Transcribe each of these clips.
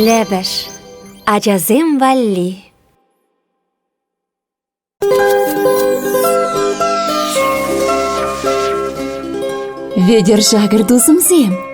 Лепеш ачасем валли Вӗтӗр шакӑр тусӑмсем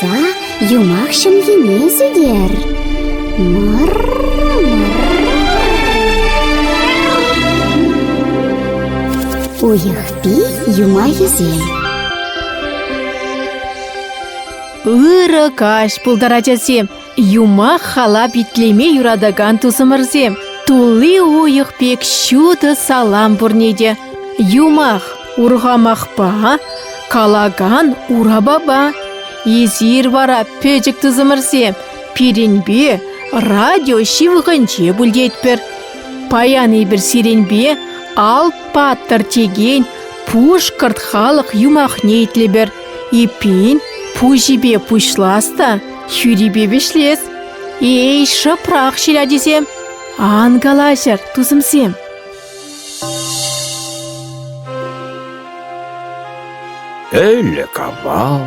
Та юмах ҫӑмхине сӳтер. Уйӑхпи юмахӗсем Ырӑ каҫ пултӑр, ачасем! Юмах-халап итлеме юратакан тусӑмӑрсем, тулли уйӑх пек ҫутӑ салам пурне те. Юмах урхамахпа, калакан урапапа. Эсир вара, пӗчӗк тусӑмӑрсем, пирӗнпе радио ҫывӑхӗнче пультетпӗр. Паян эпир сирӗнпе Ал паттӑр текен пушкӑрт халӑх юмахне итлӗпӗр. Эппин, пуҫӗпе пуҫлас та. Хӳрипе вӗҫлес. Эй, шӑпрах ҫил ачисем! Ан калаҫӑр, тусӑмсем. Ӗлӗк авал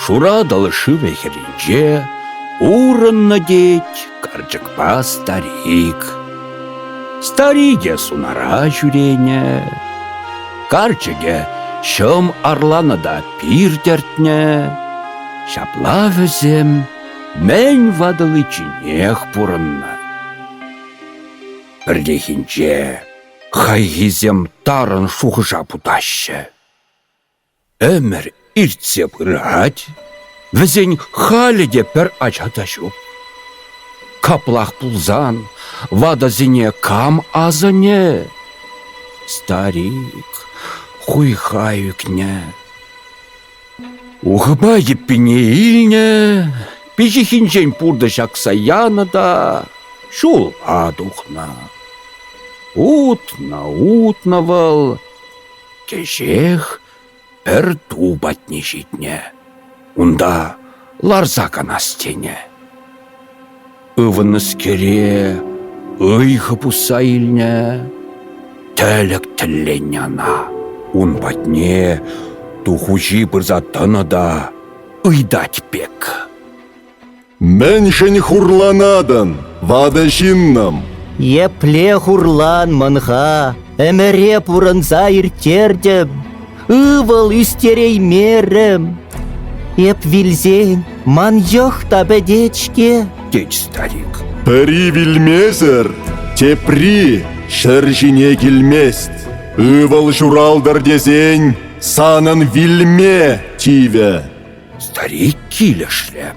Шуратӑл шывӗ хӗрринче Урӑннӑ тет карчӑкпа старик. Старике сунара ҫӳренӗ, Карчӑкӗ ҫӑм арланӑ та пир тӗртнӗ. Ҫапла вӗсем мӗн ватӑличченех пурӑннӑ. Пӗррехинче хайхисем тарӑн шухӑша путаҫҫӗ. Ӗмӗр иртсе пырать, вӗсен халӗ те пӗр ача та ҫук. Каплах пулсан, ватӑсене кам асӑнӗ? Старик хуйха ӳкнӗ. Ухӑпа йӗппине илнӗ, пиҫиххинчен пуртӑ ҫакса янӑ та ҫула тухнӑ. Утнӑ-утнӑ вӑл, кӗҫех пӗр ту патне ҫитнӗ, унта ларса канас тенӗ. Ывӑннӑскере ыйхӑ пусса илнӗ. Тӗлӗк тӗлленнӗ ӑна. Ун патне ту хуҫи пырса тӑнӑ та ыйтать пек. Мӗншӗн хурланатӑн, ватӑ ҫыннӑм? Епле хурлан мӑн-ха? Ӗмӗре пурӑнса ирттертӗм. Ывӑл ӳстереймерӗм. Эп вилсен ман йӑх та пӗтет-ҫке, тет старик. Пӗри вилмесӗр тепри ҫӗр ҫине килмест. Ывӑл ҫуралтӑр тесен санӑн вилме тивӗ. Старик килӗшрӗ.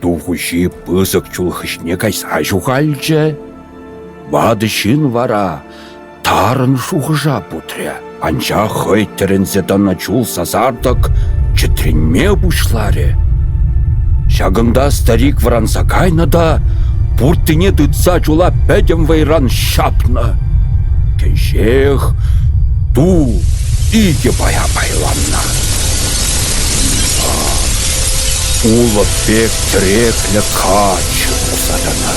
Ту хуҫи пысӑк чул хыҫне кайса ҫухалчӗ. Ватӑ ҫын вара тарӑн шухӑша путрӗ, анчах хӑй тӗлӗнсе тӑнӑ чул сасартӑк чӗтренме пуҫларӗ. Ҫакӑнта старик вӑранса кайнӑ та пурттине тытса чула пӗтӗм вӑйран ҫапнӑ. Кӗҫех ту икӗ пая пайланнӑ. улӑп пек тӗреклӗ каччӑ пулса тӑнӑ.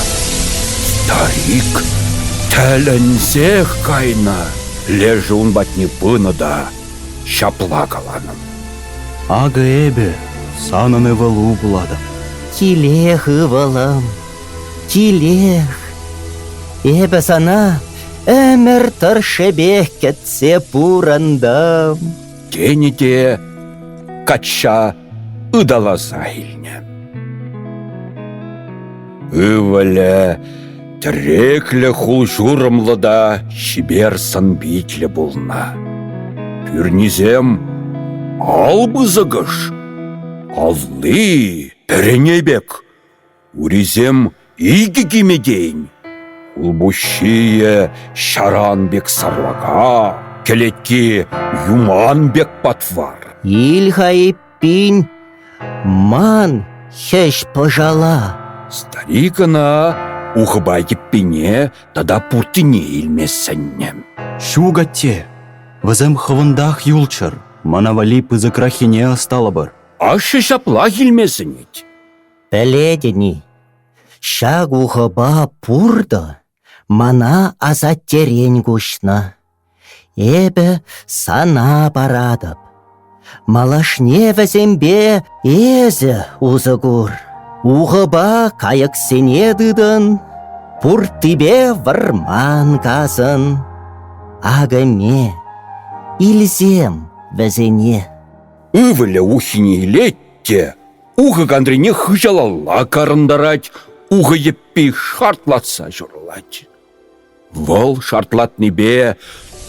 Тарик тӗлӗнсех кайнӑ, лешӗ ун патне пынӑ та ҫапла каланӑ. Акӑ эпӗ санӑн ывӑлу пулатӑп. Килех, ывӑлӑм, килех. Эпӗ сана ӗмӗр тӑршшӗпех кӗтсе пурӑнтӑм. тенӗ те качча ыталаса илнӗ. Ывӑлӗ тӗреклӗ хул-ҫурӑмлӑ та чипер сӑн-питлӗ пулнӑ. Пӳрнисем ал пысӑкӑш, алли пӗрене пек, Урисем икӗ кимӗ тейӗн. Хулпуҫҫийӗ ҫаран пек сарлака, кӗлетки юман пек патвар. Ил-ха эппин ман хӗҫ-пӑшала. Старик ӑна ухӑпа йӗппине тата пуртине илме сӗннӗ. Ҫук, атте, вӗсем хӑвӑнтах юлччӑр, мана валли пысӑкраххине ӑсталӑпӑр. Ашшӗ ҫаплах илме сӗнет. Пӗлетӗн-и, ҫак ухӑпа пуртӑ мана асаттерен куҫнӑ. Эпӗ сана паратӑп. Малашне вӗсемпе эсӗ усӑ кур. Ухӑпа кайӑксене тытӑн, пурттипе вӑрман касӑн. Акӑме, илсем вӗсене. Ывӑлӗ ухине илет те Ухӑ кантрине хыҫалалла карӑнтарать, ухӑ йӗппи шартлатса ҫурӑлать. Вӑл шартлатнипе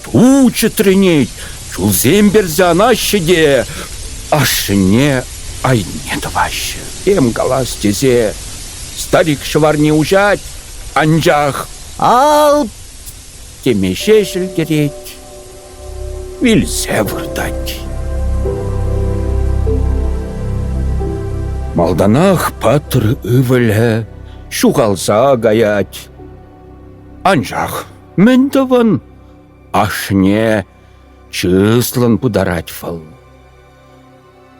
ту чӗтренет, чулсем персе анаҫҫӗ те ашшӗне айне тӑваҫҫӗ. Тем калас тесе старик ҫӑварне уҫать, анчах «Ал!» теме ҫеҫ ӗлкӗрет. Вилсе выртать. Малтанах патӑр ывӑлӗ ҫухалса каять. Анчах мӗн тӑвӑн, ашне чыслӑн пытарать вӑл.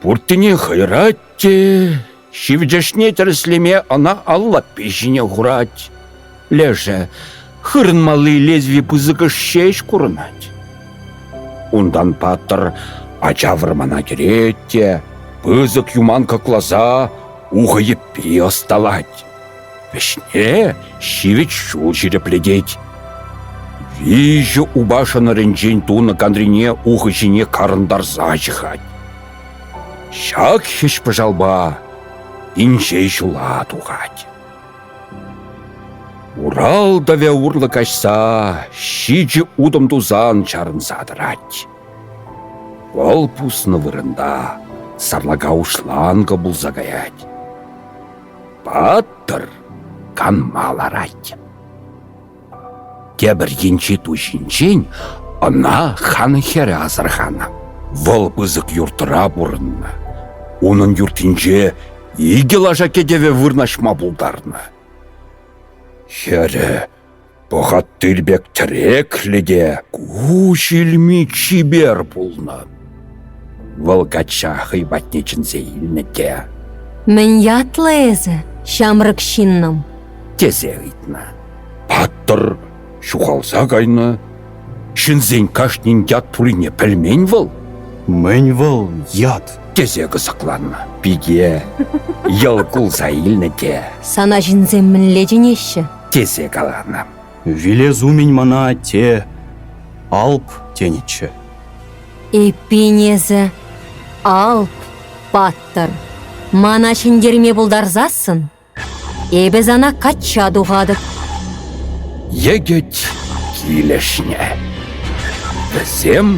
Пурттине хӑйрать те ҫивӗчӗшне тӗрӗслеме ӑна ал лаппи ҫине хурать. Лешӗ хырӑнмалли лезви пысӑкӑш ҫеҫ курӑнать. Унтан паттӑр ача вӑрмана кӗрет те пысӑк юман кӑкласа ухӑ йӗппи ӑсталать. Вӗҫне ҫивӗч ҫул ҫирӗплетет. Виҫӗ упа шӑнӑрӗнчен тунӑ кантрине ухӑ ҫине карӑнтарса ҫыхать. Ҫак хӗҫ-пӑшалпа инҫе ҫула тухать. Урал тӑвӗ урлӑ каҫса ҫичӗ утӑм тусан чарӑнса тӑрать. Вӑл пуснӑ вырӑнта сарлака уҫланкӑ пулса каять. Пӑтӑр, канма ларать. Тепӗр енчи ту ҫинчен ӑна хан хӗрӗ асӑрханӑ. Вӑл пысӑк юртра пурӑннӑ. Унӑн юртинче икӗ лаша кӗтӗве вырнаҫма пултарнӑ. Хӗрӗ Пӑхат тыл пек тӗреклӗ те куҫ илми чипер пулнӑ. Вӑл качча хӑй патне чӗнсе илнӗ те. «Мӗн ятлӑ эсӗ, ҫамрӑк ҫыннӑм?» тесе ыйтнӑ. Паттӑр ҫухалса кайнӑ. Ҫынсен кашнин ят пулине пӗлмен вӑл. «Мӗн вӑл ят?» тесе кӑсӑкланнӑ пике. Йӑл кулса илнӗ те. «Сана ҫынсем мӗнле чӗнеҫҫӗ?» тесе каланӑ. Вилес умӗн мана атте Алп тенӗччӗ. Эппин эсӗ Алп паттӑр, мана ҫӗнтерме пултарсассӑн эпӗ сана качча тухатӑп. Йӗкӗт килӗшнӗ. Вӗсем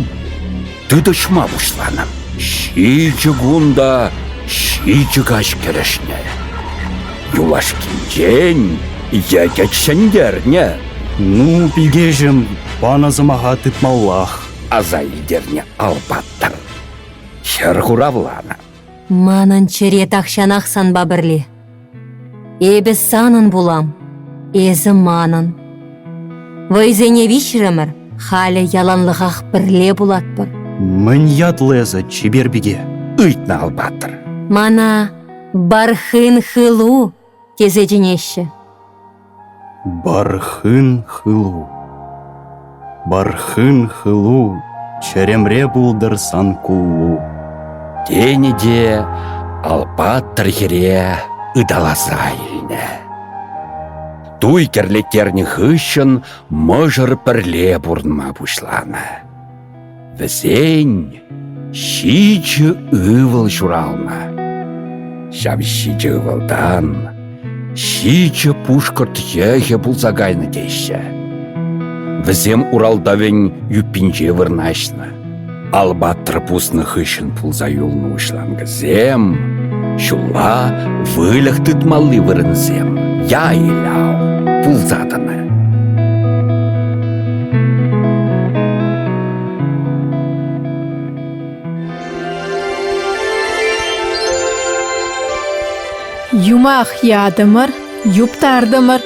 тытӑҫма пуҫланӑ. Ҫичӗ кун та ҫичӗ каҫ кӗрешнӗ. Юлашкинчен йӗкӗт ҫӗнтернӗ. Ну, пикеҫӗм, панӑ сӑмаха тытмаллах, аса илтернӗ Алпаттӑр. Хӗр хуравланӑ. Манӑн чӗре тахҫанах санпа пӗрле. Эпӗ санӑн пулам, эсӗ манӑн. Вӑйсене виҫрӗмӗр, халӗ яланлӑхах пӗрле пулатпӑр. Мӗн ятлӑ эсӗ, чипер пике, ыйтнӑ алпаттӑр. Мана Бархын хылу тесе чӗнеҫҫӗ. Бархын хылу Бархын хылу Чӗремре пултӑр сан кулу Тенӗ те ал паттӑр хӗре ыталаса илнӗ. Туй кӗрлеттернӗ хыҫҫӑн мӑшӑр пӗрле пурӑнма пуҫланӑ. Вӗсен ҫичӗ ывӑл ҫуралнӑ. Ҫав ҫичӗ ывӑлтан ҫичӗ пушкӑрт йӑхӗ пулса кайнӑ теҫҫӗ. Вӗсем Уралдавӗн юппинче вырнаҫнӑ. Албатр пуснӑ хыҫҫӑн пулса юлнӑ уҫланкӑсем ҫулла выльӑх тытмалли вырӑнсем, яй-ляв пулса тӑнӑ. Юмах ятӑмӑр, юптартӑмӑр.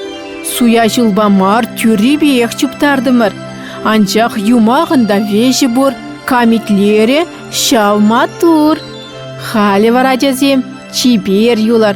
Суя ҫулпа мар тӳррипех чуптартӑмӑр. Анчах юмахӑн та веҫӗ пур, камитлерӗ ҫав маттур. Халӗ вара, ачасем, чипер юлар,